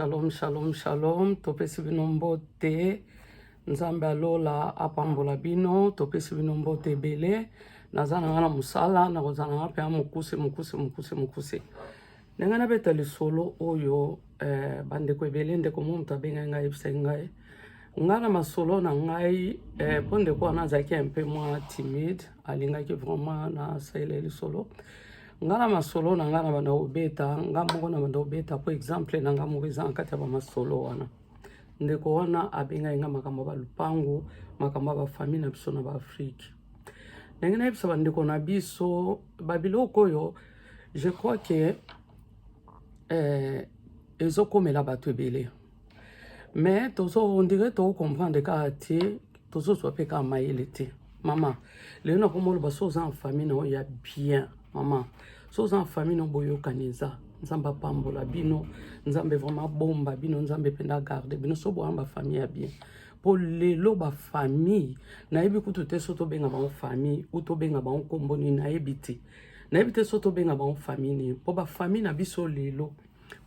Shalom, shalom, shalom. Topesi bino mbote. Nzambe alola apambola bino. Topesi bino mbote ebele. Naza na nga na mosala, nakoza na nga mpe mokuse, mokuse, mokuse, mokuse. Ndenge nabeta lisolo oyo eh, bandeko ebele ndeko mo moto abengai ngai yebisaki ngai ngai na masolo na ngai eh, mpo ndeko wana azalaki un peu mwa timide alingaki vraiment na salela lisolo nga na masolo na nga na banda kobeta nga moko na banda kobeta po exemple na nga moko eza na kati ya bamasolo wana ndeko wana abengai nga makambo ya balupango makambo ya bafamille na biso na baafrike ndenge nayebisa bandeko na biso babiloko oyo je crois ke eh, ezokomela bato ebele mais tozo on dirait to comprendre kaka te tozozwa mpe kaka mayele te mama lelo nakoma oloba so oza en famille na oyo ya bien mama so oza en famille na boyokani eza nzambe apambola bino nzambe vraiment abomba bino nzambe mpenza agarde bino so boyamba famille ya bien mpo lelo bafamille nayebi kutu te so tobenga bango famille u tobenga bango nkombo nini nayebi te nayebi te so tobenga bango famille nini mpo bafamille na biso lelo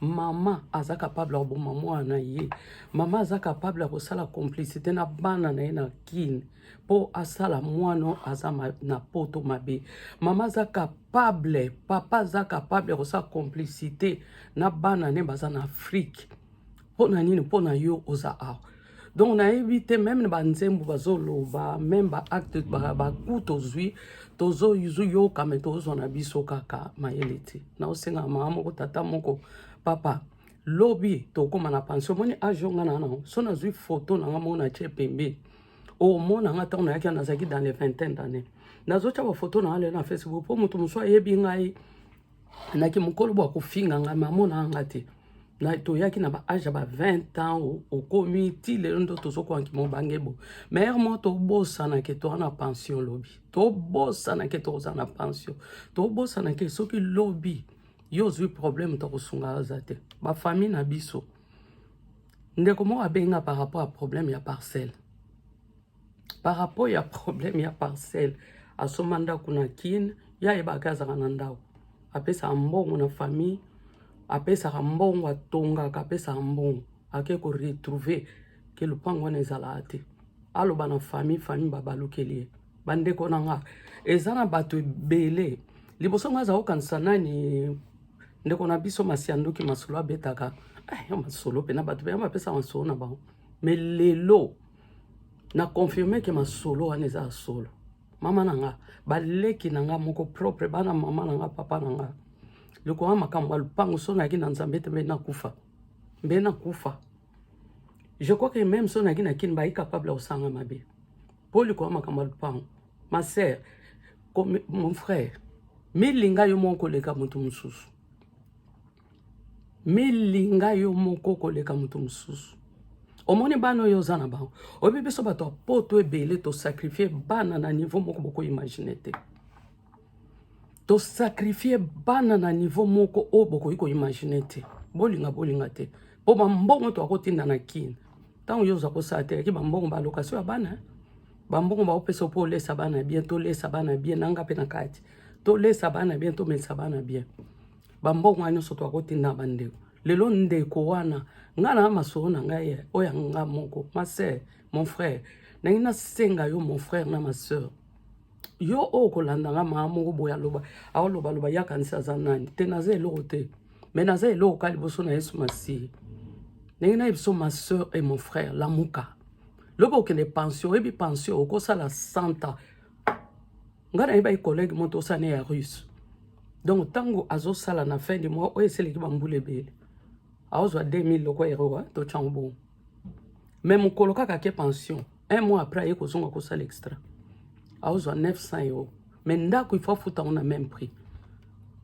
mama aza capable ya koboma mwana na ye mama aza capable ya kosala complicité na bana na ye na kine mpo asala mwana aza ma, na poto mabe mama aza capable papa aza capable ya kosala complicité na bana ne baza na afrike mpo na nini mpo na yo oza awa donc nayebi te meme na banzembo bazoloba meme baacte baku tozwi tozoyoka me tozwa na biso kaka mayele te naosenga mama moko tata moko papa lobi tokóma na pension omoni age yo ngai na nango so nazwi foto na ngai moko na tie pembe omona ngai ntango nayaki nazalaki dans les vingtaine d'année nazotya bafoto na ngai lelo na facebook mpo moto mosusu ayebi ngai naki mokolo bwa kofinga ngai me amonaka ngai te na toyaki na baage ya ba 20 ans okomi ti lelo ndo tozokwaki mobange bo maire mo tobosanake toa na pension lobi tobosanake toza na pension tobosanake soki lobi yo ozwi problème tokosunga aza te bafamille na biso ndeko moko abenga par rapport ya problème ya parcelle par rapport ya problème ya parcelle asomba ndako na kin ye ayebaka azalaka na ndako apesaka mbongo na famille apesaka mbongo atongaka apesaka mbongo ake koretrouve ke lopango wana ezalaka te aloba na famille famille babalukeli ye bandeko na nga eza na bato ebele liboso nga azala kokanisa nani ndeko na biso masiandoki masolo abetaka eh, masolo mpe na bato mpe bapesa masolo na bango me lelo na confirme ke masolo wana eza ya solo mama na nga baleki na nga moko propre bana mama na nga papa na nga lokola makambo ya lopango so nayaki na nzambe te mbe nakufa mbe nakufa je crois que même so nayaki na kini bayi capable ya kosanga mabe mpo lokola makambo ya lopango ma sœur mon frère milinga yo moko koleka moto mosusu milinga yo moko koleka moto mosusu omoni bana oyo oza na bango oyebi biso bato ya poto ebele tosakrifie bana na niveau moko bokoimagine te tosakrifie bana na niveau moko oyo bokoki koimagine te bolinga bolinga te mpo bambongo to akotinda na kine ntango yo oza kosala te yaki bambongo balokasio ya bana bambongo baopesa mpo olesa bana bien tolesa bana bien nanga mpe na kati tolesa bana bien tomelisa bana bien bambongo wana nyonso toakotinda bandeko lelo ndeko wana ngai na masolo na ngai eh, oyo yanga moko ma sœur mon frère nangi nasenga yo mon frère na ma sœur yo oyo okolanda ngai maa moko boye aloba aolobaloba ye akanisi aza nani te naza eloko te me naza eloko ka liboso na yesu masihi ndenge na ye biso ma sœur et mon frère lamuka lobi okende pension oyebi pension okosala santa ngai nayebaki collègue moto osana ya russe donc ntango azosala na fin de mois oyo eseleki bambula ebele aozwa 2000 loko eroa totyango bongo me mokolo kaka ake pension un mois après aye kozonga kosala extra aozwa 900 euro me ndako ifo afuta yango na même prix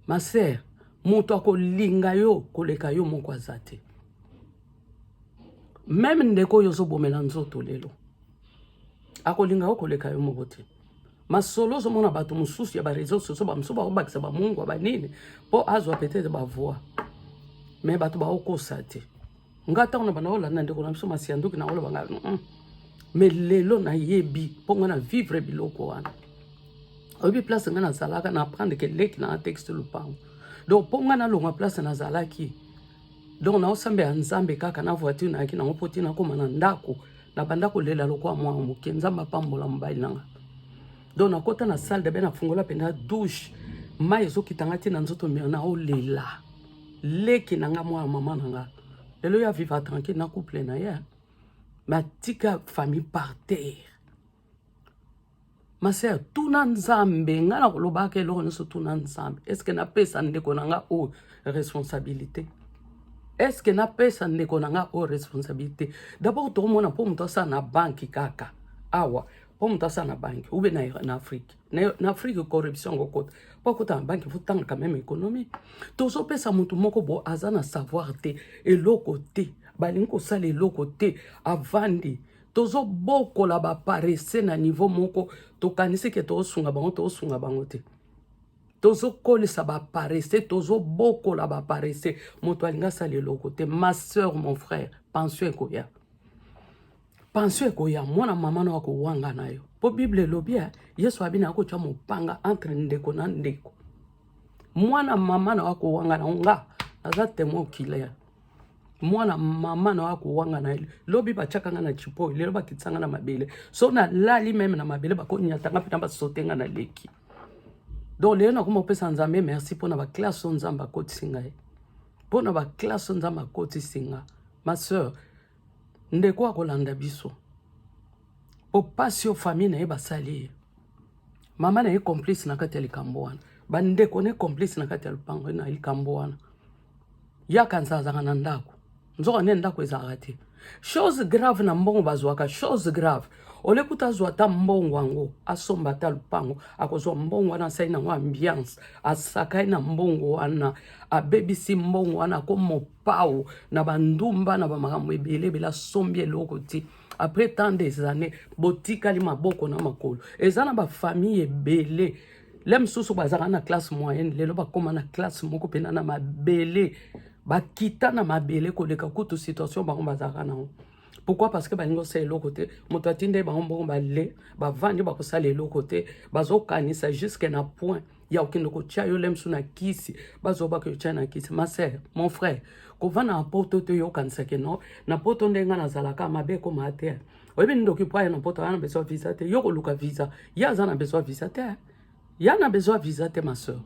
ma sere moto akolinga yo koleka yo moko aza te meme ndeko oyo ozobomela nzoto lelo akolinga yo koleka yo moko te masolo ozomona bato mosusu ya bareseau soso bamosusu bakobakisa bamungwa banini mpo azwa peut-être bavoi me bato baokosa te nga ntango na banda olanda ndeko na biso masianduki naoloba nga mm. me lelo nayebi mpo nga na vivre biloko wana oyebi place nga nazalaka na apprendre ke leki na texte lopango donc mpo nga nalonga place nazalaki donc naosambela nzambe kaka na voiture nayaki nango mpo te nakoma na ndako nabanda kolela lokola mwana moke nzambe apambola mobali na nga donc nakota na salle dabe nafungola mpenza douche mai ezokita nga te na nzoto mia naolela leki na nga mwana mama na nga lelo ya viva tranquille na couple na ye matika famille par terre masea tuna nzambe ngai nakolobaka eloko nyonso tuna nzambe eske napesa ndeko na ngai oyo responsabilité eske napesa ndeko na ngai oyo responsabilité dabord tokomona mpo moto asala na banki kaka awa mpo moto asala na banki ube na, na afrike na, na afrike corruption yango kota mpo akota na banki fotangaka meme économie tozopesa moto moko bo aza na savoir te eloko te balingi kosala eloko te avandi tozo bokola ba paresse na niveau moko tokanisi ke tozosunga bango tozosunga bango te tozokolisa ba paresse tozobokola ba paresse moto alingi asala eloko te ma soeur mon frère pension ekoya pension ekoya mwana mama na akowanga na yo mpo bible elobi ya yesu abi na akotya mopanga entre ndeko na ndeko mwana mama na akowanga na nga naza temoin okilere mwana mama na yo akowanga na ye lobi batyaka nga na chipoy lelo bakitisa nga na mabele so nalali meme na mabele bakonyata nga mpena basote nga na leki donc lelo nakoma kopesa nzambe merci mpo na baklasse oyo nzambe akotisi ngai mpo na baklasse oyo nzambe akotisi nga ma sœur ndeko akolanda biso mpo mpasi oyo famille na ye basali ye mama na ye complice na kati ya likambo wana bandeko ne complice na kati ya lopango na likambo wana ya kanisa azalaka na ndako nzoka nde ndako ezalaka te chose grave na mbongo bazwaka chose grave ole kuta azwa ata mbongo yango asomba ata lupango akozwa mbongo wana asali nango ambiance asakai na mbongo wana abebisi mbongo wana akomopao na bandumba na bamakambo ebele ebele asombi eloko te après tant des années botikali maboko na makolo eza na bafamille ebele le mosusu bazalaka na classe moyenne lelo bakóma na classe moko mpena na mabele bakita na mabele koleka kutu situation bango bazalaka nango pourquoi parce que balingi kosala eloko te moto atindai bango mbongo bale bavandi bakosala eloko te bazokanisa jusque na point ya kokende kotya yo lemsu na kisi bazoba koyotya na kisi ma sœur mon frère kovanda na poto te oyokanisake no na poto ndenge ngai nazalaka mabe ekoma te oyebi nini ndoki po aya na poto aya na besoin visa te yo koluka visa ye aza na besoin visa te ya na besoin visa te ma soeur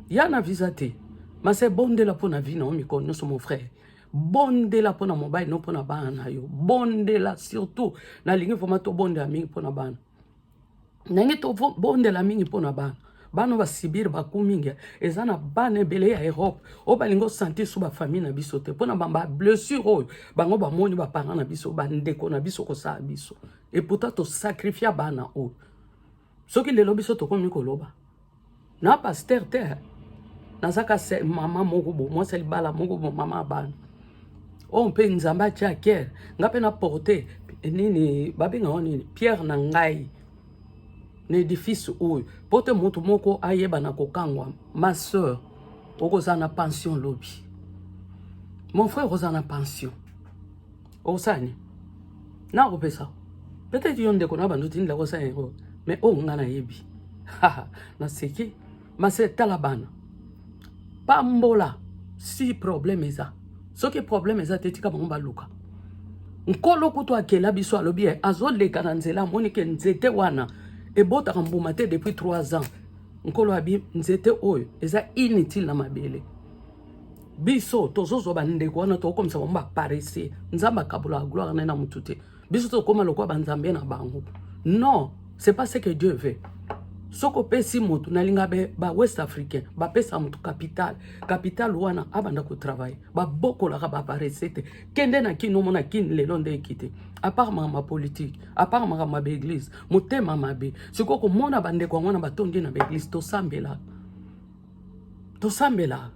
ya na visa te mase bondela mpo na vie na yo mikolo nyonso mon frère bondela mpo na mobali no mpo na bana na yo bondela surtout nalingi vraimen tobondela mingi mpo na bana ndenge tobondela mingi mpo na bana bana basibir baku mingi eza na bana ebele ya europe oyo balingi osantir so bafamille na biso te mpo na bablessure oyo bango bamoni baparent na biso bandeko na biso kosala biso epouta tosakrifia bana oyo soki lelo biso tokomi koloba na pasteur te nazaka se mama moko bo mwasi libala moko bo mama abana oyo mpe nzambe atya kere nga mpe na porte nini babenga ngo nini pierre na ngai na edifice oyo mpo te moto moko ayeba na kokangwa ma soeur okozala na pension lobi mon frère okozala na pension okosala nini na kopesa peut-être yo ndeko na bando tindela kosala yango mais oyo oh, nga nayebi naseki mase tala bana pambola si problème eza soki problème eza te tika bango baluka nkolo kutu akela biso alobi ye azoleka na nzela amoni ke nzete wana ebotaka mbuma te depuis 3 ans nkolo abi nzete oyo eza inutile na mabele biso tozozwa bandeko wana tokokomisa bango baparese nzambe akabolaka gloire na ye na motu te biso tokoma lokola banzambe na bango non c'est pas ce que dieu veut soki opesi motu nalinga ba west africain bapesa motu capital capital wana abanda kotravaille babokolaka baparese te kende na kini omona kini lelo nde ekite apart makambo ya politike apart makambo ya baeglise motema mabe sikoyo komona bandeko yango wana batondi na baeglise tosambelaka tosambela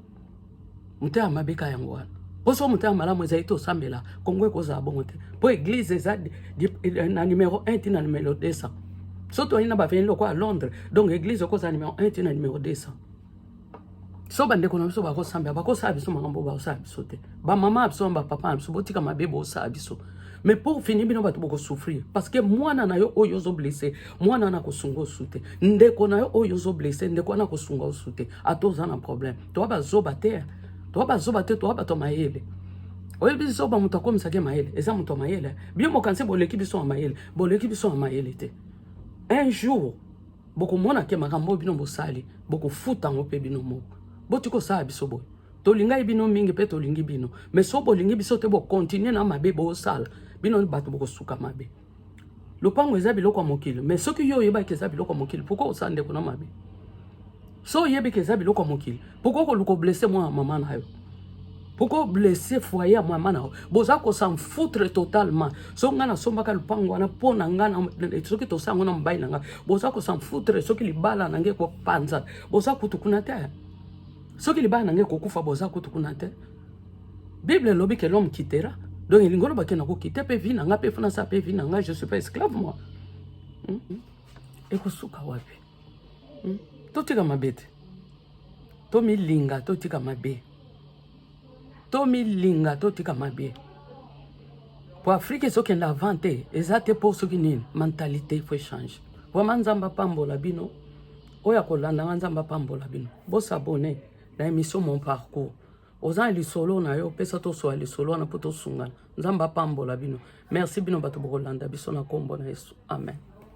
motema mabe ka yango wana poso motema malamu ezali tosambela kongo ekozala bongo te mpo eglize eza eh, na numero 1 ti na numero 200 so toyali na baveni lokola londres donc eglize okozala numero 1 ti na numero 200 so bandeko na biso bakosambela bakosala biso makambo bakosala biso te bamama na biso na bapapa na biso botika mabe bosala biso mais pour fini bino bato bokosouffrir parce que mwana na yo oyo ozo blesse mwana wana akosunga osu te ndeko na yo oyo ozo blesse ndeko wana akosunga osu te ata oza na problème toa bazoba te toa bazoba te toa bato mayele oyebi zoba moto akomisaki ye mayele eza moto ya mayele bino mokanisi boleki biso ya mayele boleki biso ya mayele te un jour bokomona ke makambo oyo bino bosali bokofuta yango mpe bino moko boti kosala biso boye tolingai bino mingi mpe tolingi bino mais so bolingi biso te bokontinue na mabe bosala bino bato bokosuka mabe lopango eza biloko ya mokili mais soki yo oyebaki eza biloko ya mokili pourkoi osala ndeko na mabe so oyebiki eza biloko ya mokili pourkoi koluka oblesse mwana ya mama na yo pourkoi oblesse foyer ya mama na yo boza kosan foutre totalement soki ngai nasombaka lopango wana mpo na ngai soki tosala yango na mobali na ngai boza kosan foutre soki libala na ngai ekopanzana boza kutu kuna te soki libala na ngai kokufa boza kutu kuna te bible elobi ke l'homme kitera donc elingi oloba ke nakokite mpe vi na ngai mpe fana sa mpe vi na ngai je suis pas esclave moi hmm? hmm. ekosuka wapi hmm? totika mabe te tomilinga totika mabe tomilinga totika mabe mpo afrike ezokenda avant te eza te mpo soki nini mentalité faut echange vraimen nzambe apambola bino oyo akolanda nga nzambe apambola bino bosabone na émission mon parcours oza na lisolo na yo opesa toswa lisolo wana mpo tosungana nzambe apambola bino merci bino bato bokolanda biso na nkombo na yesu amen